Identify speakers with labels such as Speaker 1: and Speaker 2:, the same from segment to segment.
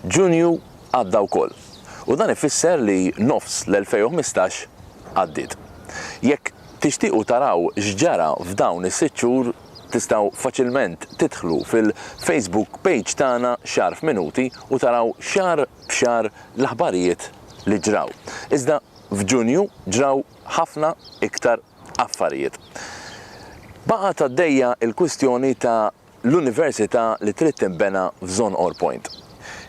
Speaker 1: Ġunju għadda wkoll u dan ifisser li nofs l-2015 għaddiet. Jekk tixtiequ taraw x'ġara f'dawn is-sitt xhur tistgħu faċilment tidħlu fil-Facebook page tagħna xahar f'minuti u taraw xahar b'xahar l-aħbarijiet li ġraw. Iżda f'Ġunju ġraw ħafna iktar affarijiet. Baqgħet għaddejja l-kwistjoni ta' l-Università li trid tinbena f'Zon Ore Point.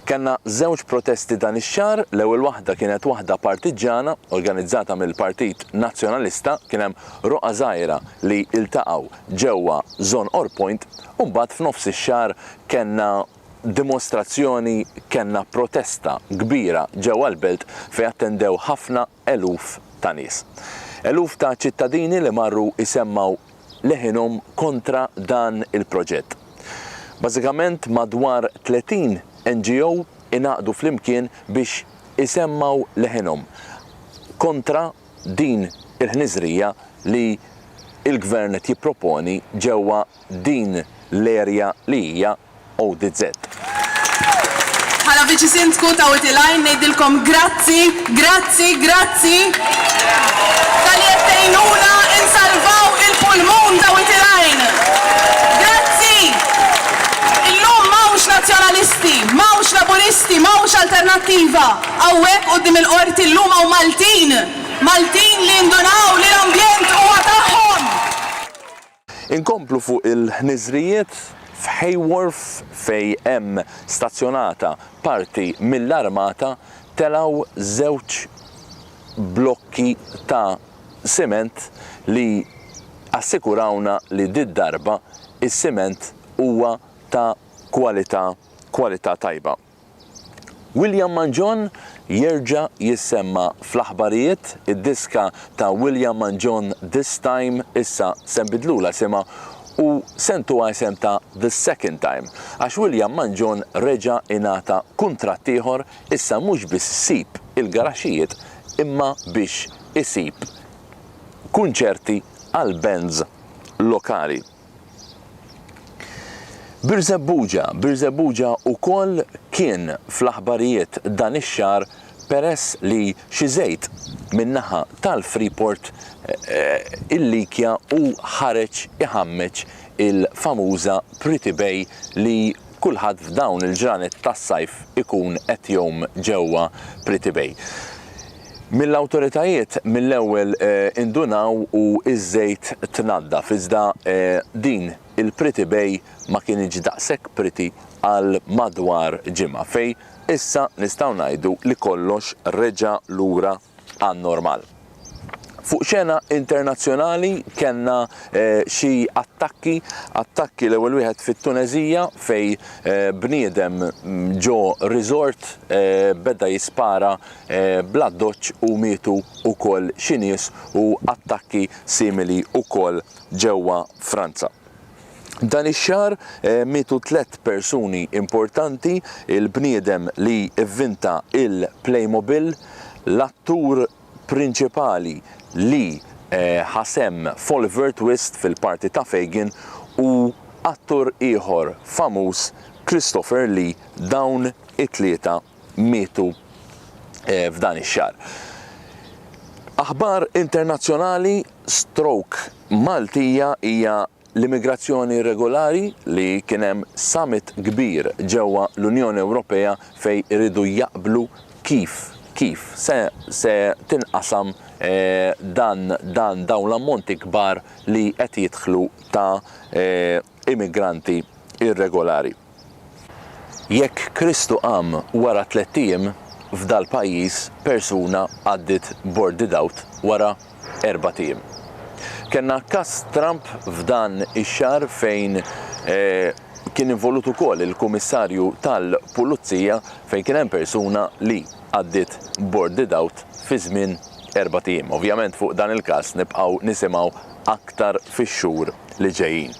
Speaker 1: Kellna żewġ protesti dan ix-xahar, l-ewwel waħda kienet waħda partiġġana organizzata mill-Partit Nazzjonalista, kien hemm roqgħa żgħira li ltaqgħu ġewwa Zon Ore Point u mbagħad f'nofs ix-xahar kellna dimostrazzjoni, kellna protesta kbira ġewwa l-Belt fejn attendew ħafna eluf ta' nies. Eluf ta' ċittadini li marru jsemmgħu leħinhom kontra dan il-proġett. Bażikament madwar 30 NGO ingħaqdu flimkien biex isemmgħu leħinhom kontra din il-ħniżrija li l-Gvern qed jipproponi ġewwa din l-erja li hija ODZ. Bħala Viċi Sindku ta' Wied il-Għajn ngħidilkom grazzi, grazzi, grazzi talli qed tgħinuna insalvaw il-pulmun ta' Wied il-Għajn. Grazzi! Illum m'hawnx Nazzjonalisti, m'hawnx Laburisti, m'hawnx Alternattiva hawnhekk quddiem il-Qorti llum hawn Maltin, Maltin li indunaw li l-ambjent huwa tagħhom! Inkomplu fuq il-ħniżrijiet f'Hay Wharf fejn hemm stazzjonata parti mill-armata telgħu żewġ blokki ta' siment li assikurawna li did-darba is-siment huwa ta' kwalità kwalità tajba. William Mangion jerġa' jissemma fl-aħbarijiet, id-diska ta' William Mangion This Time issa se nbiddlulha isimha u se ntuha isem ta' The Second Time għax William Mangion reġa' ingħata kuntratt ieħor issa mhux biss jsib il-garaxxijiet imma biex isib kunċerti għall-bands lokali. Birżebbuġa, Birżebbuġa ukoll kien fl-aħbarijiet dan ix-xahar peress li xi żejt min-naħa tal-Freeport il-Likja hu ħareġ iħammeġ il-famuża Pretty Bay li kulħadd f'dawn il-ġranet tas-sajf ikun qed jgħum ġewwa Pretty Bay. Mill-awtoritajiet mill-ewwel indunaw u ż-żejt tnaddaf iżda din il-Pretty Bay ma kinitx daqshekk pretty għal madwar ġimgħa fejn issa nistgħu ngħidu li kollox reġa' lura għan-normal. Fuq xena internazzjonali kellna xi attakki, attakki l-ewwel wieħed fit-Tuneżija fejn bniedem ġo resort beda jispara bl-addoċċ u mietu wkoll xi nies u attakki simili wkoll ġewwa Franza. Dan ix-xahar mietu tliet persuni importanti, il-bniedem li vvinta il-Playmobil, l-attur prinċipali li ħa sehem f'Oliver Twist fil-parti ta' Fagin u attur ieħor famuż Christopher Lee dawn it-tlieta mietu f'dan ix-xahar. Aħbar internazzjonali, Stroke Maltija hija l-immigrazzjoni irregolari li kien hemm summit kbir ġewwa l-Unjoni Ewropea fejn iridu jaqblu kif kif se se tinqasam dan dan dawn l-ammonti kbar li qed jidħlu ta' immigranti irregolari. Jekk Kristu qam wara tlett ijiem, f'dal-pajjiż persuna għaddiet bord di dawt wara erbat ijiem. Kellna każ Trump f'dan ix-xahar fejn kien involut ukoll il-Kumissarju tal-Pulizija fejn kien hemm persuna li għaddiet bord di dawt fi żmien erbat ijiem. Ovvjament fuq dan il-każ nibqgħu nisimgħu aktar fix-xhur li ġejjin.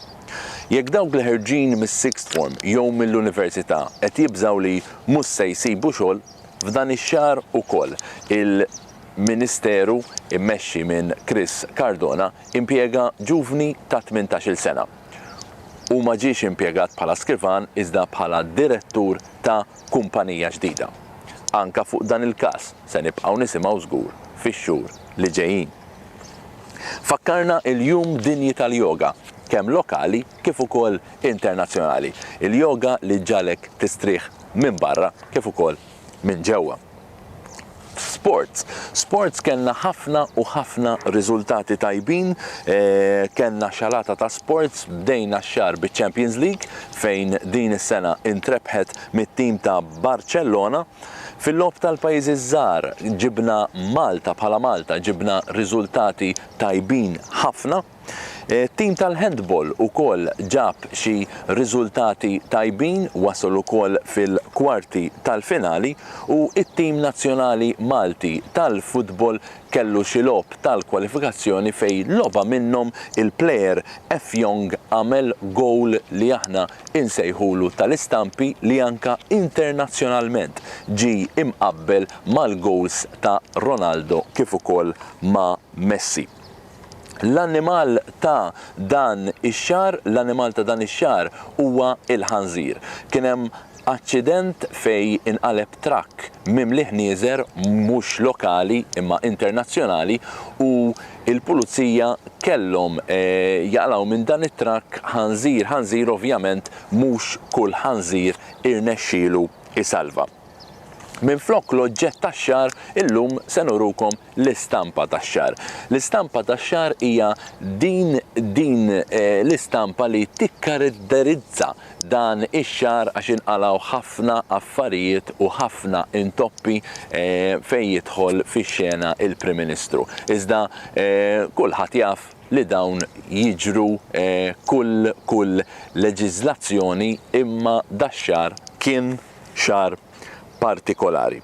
Speaker 1: Jekk dawk li ħerġin mis-sixth form jew mill-università qed jibżgħu li mhux se jsibu xogħol, f'dan ix-xahar ukoll il-Ministeru mmexxi minn Chris Cardona impjega ġuvni ta' tmintax-il sena. Hu ma ġiex impjegat bħala skrivan iżda bħala direttur ta' kumpanija ġdida. Anke fuq dan il-każ se nibqgħu nisimgħu żgur fix-xhur li ġejjin. Fakkarna l-Jum Dinji tal-Yoga, kemm lokali kif ukoll internazzjonali, il-yoga li ġġagħlek tistrieħ minn barra kif ukoll minn ġewwa. F'sports, sports kellna ħafna u ħafna riżultati tajbin, kellna xalata ta' sports, bdejna x-xahar biċ-Champions League fejn din is-sena intrebħet mit-tim ta' Barċellona, Fil-logħob tal-pajjiżi ż-żgħar ġibna Malta bħala Malta ġibna riżultati tajbin ħafna. It-tim tal-handball ukoll ġab xi riżultati tajbin, wasal ukoll fil-kwarti tal-finali u t-tim nazzjonali Malti tal-futbol kellu xi logħob tal-kwalifikazzjoni fejn logħba minnhom il-plejer Effiong għamel gowl li aħna insejħulu tal-istampi li anke internazzjonalment ġie imqabbel mal-gowls ta' Ronaldo kif ukoll ma' Messi. L-annimal ta' dan ix-xahar L-annimal ta' dan ix-xahar huwa l-ħanżir. Kien hemm aċċident fejn inqaleb trakk mimli ħnieżer mhux lokali imma internazzjonali u il-Pulizija kellhom jaqlgħu minn dan it-trakk ħanżir ħanżir ovvjament mhux kull ħanżir irnexxielu jsalva. Minflok l-oġġett tax-xagħar illum se nurukom l-istampa tax-xagħar. L-istampa tax-xagħar hija din din l-istampa li tikkaratterizza dan ix-xahar għax inqalgħu ħafna affarijiet u ħafna intoppi fejn jidħol fix-xena il-Prim Ministru. Iżda kulħadd jaf li dawn jiġru kull kull leġiżlazzjoni imma dax-xahar kien xahar partikolari.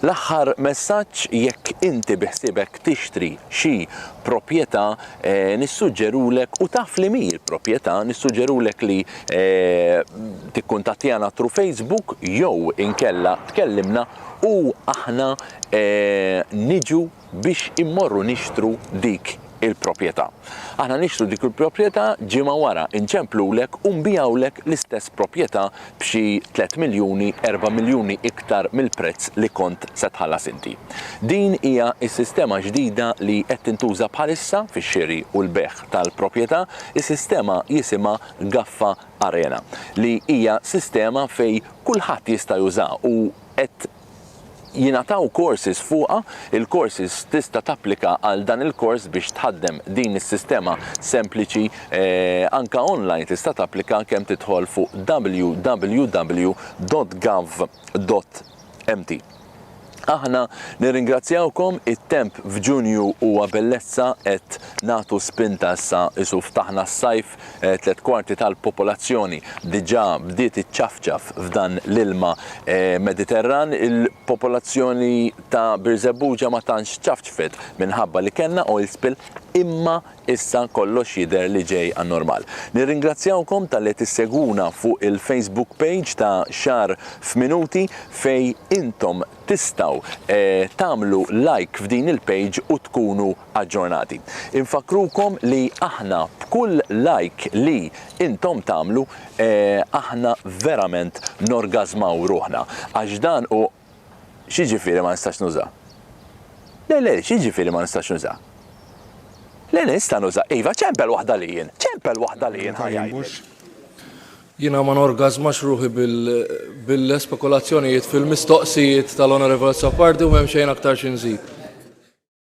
Speaker 1: L-aħħar messaġġ, jekk inti biħsiebek tixtri xi proprjetà, nissuġġerulek, u taf li mhi l-proprjetà, nissuġġerulek li tikkuntattjana through Facebook jew inkella tkellimna u aħna niġu biex immorru nixtru dik il-proprjetà. Aħna nixtru dik il-proprjetà, ġimgħa wara nċemplulek u nbigħulek l-istess proprjetà b'xi tliet miljuni, erba' miljuni iktar mill-prezz li kont se tħallas inti. Din hija s-sistema ġdida li qed tintuża bħalissa fix-xiri u l-bejgħ tal-proprjetà, is-sistema jisimha Gaffa Arena, li hija sistema fejn kulħadd jista' juża u qed jingħataw courses fuqha, il-courses tista' tapplika għal dan il-kors biex tħaddem din is-sistema sempliċi anke online tista' tapplika kemm tidħol fuq www.gov.mt. Aħna nirringrazzjawkom it-temp f'Ġunju huwa bellezza qed nagħtu spinta issa isu ftaħna s-sajf Tliet kwarti tal-popolazzjoni diġà bdiet iċċafċaf f'dan l-ilma Mediterran. Il-popolazzjoni ta' Birżebbuġa ma tantx ċafċfet minħabba li kellna oil spill imma issa kollox jidher li ġej għan-normal. Nirringrazzjawkom talli qed issegwuna fuq il-Facebook page ta' Xahar f'Minuti fejn intom tistgħu tagħmlu like f'din il-page u tkunu aġġornati. Infakkrukom li aħna b'kull like li intom tagħmlu aħna verament norgażmaw ruħna għax dan hu X'jiġifieri ma nistax nuża? Le le, x'jiġifieri ma nistax nuża? Le le nista' nuża, iva ċempel waħda li jien, ċempel waħda li jien ħa jgħidlek. Jiena ma norgażmax ruħi bil-spekulazzjonijiet fil-mistoqsijiet tal-Onorevole Azzopardi u m'hemm xejn aktar xi nżid.